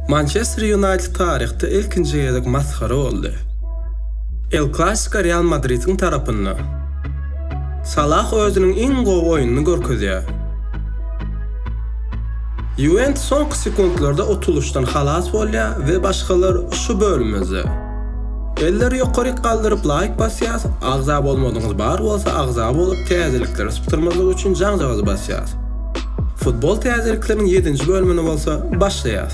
Mançester Ýunaýted taryhda ilkinji gezek masgara boldy. El Klasiko Real Madridiň tarapynda. Salah özüniň iň gowy oýnuny görkezýär. Ýuwentus soňky sekuntlarda utulyşdan halas bolýar we başgalar şu bölümimizde. Elleri ýokaryk galdyryp laýk basýas, agza bolmadygyňyz bar bolsa agza bolup täzelikleri sypdyrmazlyk üçin jaňjagazy basýas. Futbol täzelikleriň ýedinji bölümini bolsa başlaýas.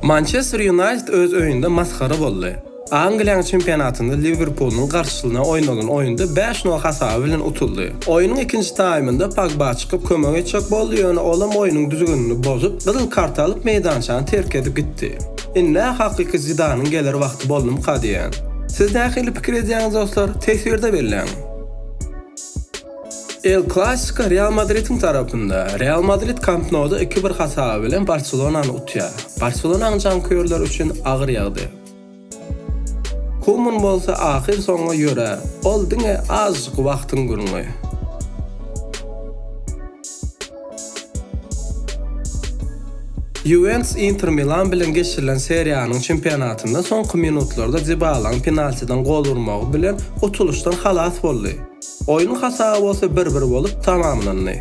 Mançester Ýunaýted öz öýünde masgara boldy. Angliýanyň çempionatynda Liwerpulyň garşysyna oýnalan oýunda bäş nol hasaby bilen utuldy. Oýnuň ikinji taýmynda Pogba çykyp kömek etjek boldy, ýöne olam oýnuň düzgünini bozup, gyzyl kart alyp meýdançany terk edip gitdi. Indi-ä hakyky Zidanyň geler wagty boldumyka diýýän. Siz nähili pikir edýäňiz dostlar, teswirde belläň! El Klasiko Real Madridiň tarapynda. Real Madrid Kamp Nouda iki-bir hasaby bilen Barselonany utýar. Barselonanyň janköýerleri üçin agyr ýagdaý. Kuman bolsa ahyrsoňy ýörär, ol diňe azajyk wagtyň gürrüňi. Ýuwentus Inter Milan bilen geçirilen seriýanyň çempionatynda soňky minutlarda Dibalaň penaltiden gol urmagy bilen utulyşdan halas boldy. Oýnuň hasaby bolsa bir-bir bolup tamamlandy.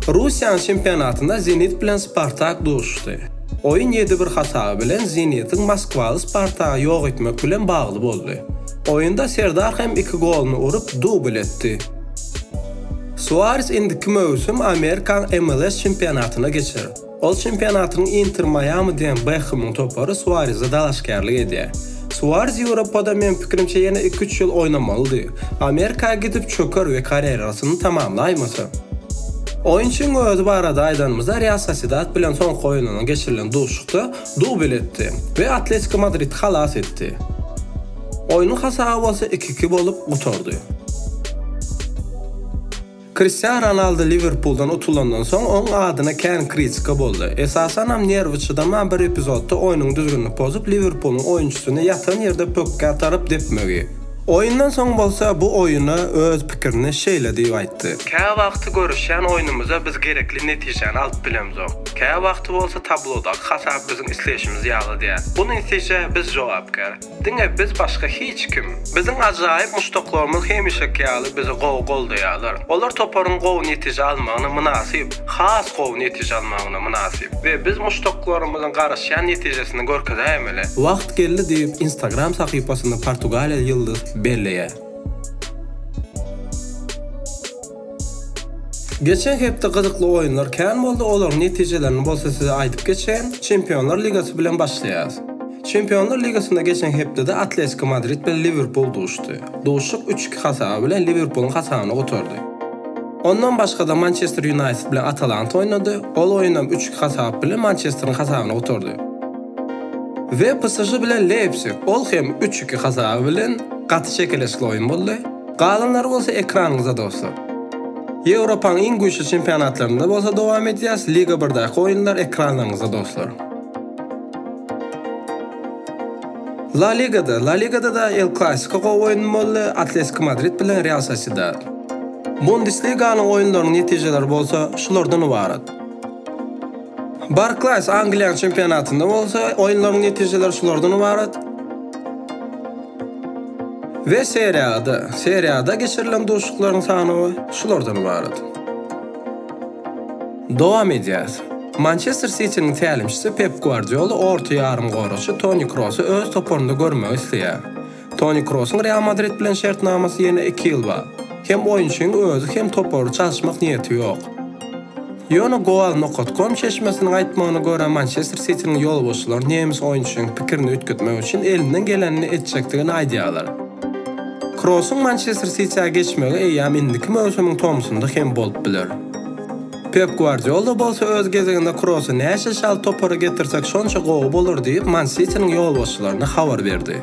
Russiýanyň çempionatynda Zenit bilen Spartak duşuşdy. Oýun ýedi bir hasaby bilen Zenitiň moskwaly Spartagy ýok etmek bilen bagly boldy. Oýunda Serdar hem iki goluny urup, dubl etdi. Suares indiki möwsüm Amerikanyň MLS çempionatyna geçer. Ol çempionatyň Inter Maýami diýen Bekhemiň topary Suareze dalaşgärlik edýär. Suarez Ýewropada meň pikirimçe ýene iki-üç ýyl oýnamalydy. Amerika gidip çöker we karýerasyny tamamlaýmasa. Oýunçyň özi barada aýdanymyzda Real Sosiedad bilen soňky oýnuna geçirilen duşuşykda dubl etdi we Atletiko Madridi halas etdi. Oýnuň hasaby bolsa iki-iki bolup gutardy. Kristiano Ronaldo Liwerpuldan utulandan soň, oň adyna kän kritika boldy. Esasanam nerwi çydaman bir epizodda oýnuň düzgünini pozup, Liwerpulyň oýunçysyny ýatan ýerde pökgä saryp depmegi. Oýundan soň bolsa bu oýuna öz pikirini şeýle diýip aýtdy. Käwagty görüşýän oýnumyzda biz gerekli netijäni alyp bilemzok. Käwagty bolsa tablodaky hasap biziň isleýşimiz ýaly däl. Bu netijä biz jogapkär. Diňe biz başga hiç kim. Biziň ajaýyp muşdaklarymyz hemişeki ýaly bizi gowy goldaýarlar. Olar toparyň gowy netije almagyna mynasyp, has gowy netije almagyna mynasyp we biz muşdaklarymyzyň garaşýan netijesini görkezäýmeli. Wagt geldi diýip, Instagram sahypasyny portugaliýaly ýyldyz belleýär. Geçen hepde gyzykly oýunlar kän boldy, olaryň netijelerini bolsa size aýdyp geçeýin. Çempionlar ligasy bilen başlaýarys. Çempionlar ligasynda geçen hepdede Atletiko Madrid bilen Liwerpul duşdy. Duşuşyk üç iki hasaby bilen Liwerpulyň hasabyna gutardy. Ondan başga-da Mançester Ýunaýted bilen Atalanta oýnady, ol oýun hem üç iki hasap bilen Mançesteriň hasabyna gutardy. We PSŽ bilen Leýpsig, ol hem üç iki hasaby bilen gaty çekeleşikli oýun boldy. Galanlary bolsa ekranyňyzda dostlar. Ýewropaň iň güýçli çempionatlarynda bolsa dowam edýäs, Liga birdäki oýunlar ekranlaryňyzda dostlar. La Ligada, La Ligada-da El Klasiko gowy oýun boldy, Atletiko Madrid bilen Real Sosiedad. Bundesliganyň oýunlarynyň netijeleri bolsa şulardan ybarat. Barklaýs Angliýanyň çempionatynda bolsa oýunlaryň netijeleri şulardan ybarat. We seriýada, seriýada geçirilen duşuşyklaryň sanawy şulardan ybarat. Dowam edýäs. Mançester Sitiniň tälimçisi Pep Guardiola orta ýarymgoraçy Toni Krosy öz toparynda görmegi isleýär. Toni Krosuň Real Madrid bilen şertnamasy ýene iki ýyl bar. Hem oýunçyň özi, hem topary çalyşmak niýeti ýok. Ýöne Goal nokat kom çeşmesiniň aýtmagyna görä, Mançester Sitiniň ýolbaşçylary nemes oýunçynyň pikirini üýtgetmek üçin elinden gelenini etjekdigini aýdýarlar. Krossyň Mançester Sitiä geçmegi eýýäm indiki möwsümiň tomsunda hem bolup biler. Pep Gwardiola bolsa öz gezeginde Krossy näçe çalt topara getirsek şonça gowy bolar diýip Man Sitiniň ýolbaşçylaryna habar berdi.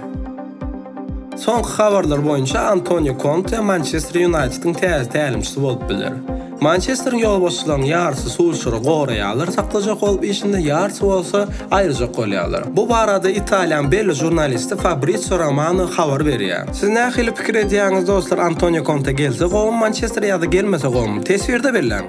Soňky habarlar boýunça Antonio Konte Mançester Ýunaýtediň täze tälimçisi bolup biler. Mançesteriň ýolbaşçylarynyň ýarysy Sulşery goraýarlar, saklajak bolup işinde ýarysy bolsa aýyrjak bolýarlar. Bu barada Italiýanyň belli žurnalisti Fabrizio Romano habar berýär. Siz nähili pikir edýäňiz dostlar Antonio Konte gelse gowumy Mançestere ýa-da gelmese gowumy? Teswirde belläň!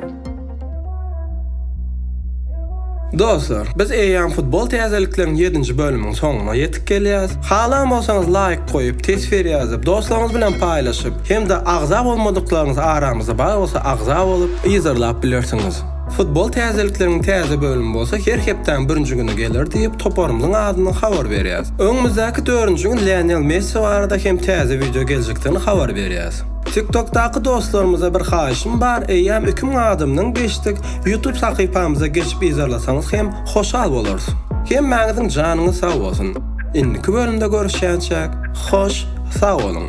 Dostlar, biz eýýäm futbol täzelikleriň ýedinji bölüminiň soňuna ýetip gelýäs. Halan bolsaňyz laýk goýup, teswir ýazyp, dostlaryňyz bilen paýlaşyp hem-de agza bolmadyklaryňyz aramyzda bar bolsa agza bolup, yzarlap bilersiňiz. Futbol täzelikleriniň täze bölümi bolsa her hepdäň birinji güni geler diýip, toparymyzyň adyndan habar berýäs. Öňümizdäki dördünji gün Lionel Messi barada hem täze wideo geljekdigini habar berýäs. TikTokdaky dostlarymyza bir haýyşym bar, eýýäm iki müň adamdan geçdik, YouTube sahypamyza geçip yzarlasaňyz hem hoşal bolarys. Hemmäňiziň janyňyz sag bolsun! Indiki bölümde görüşýänçäk hoş sag boluň.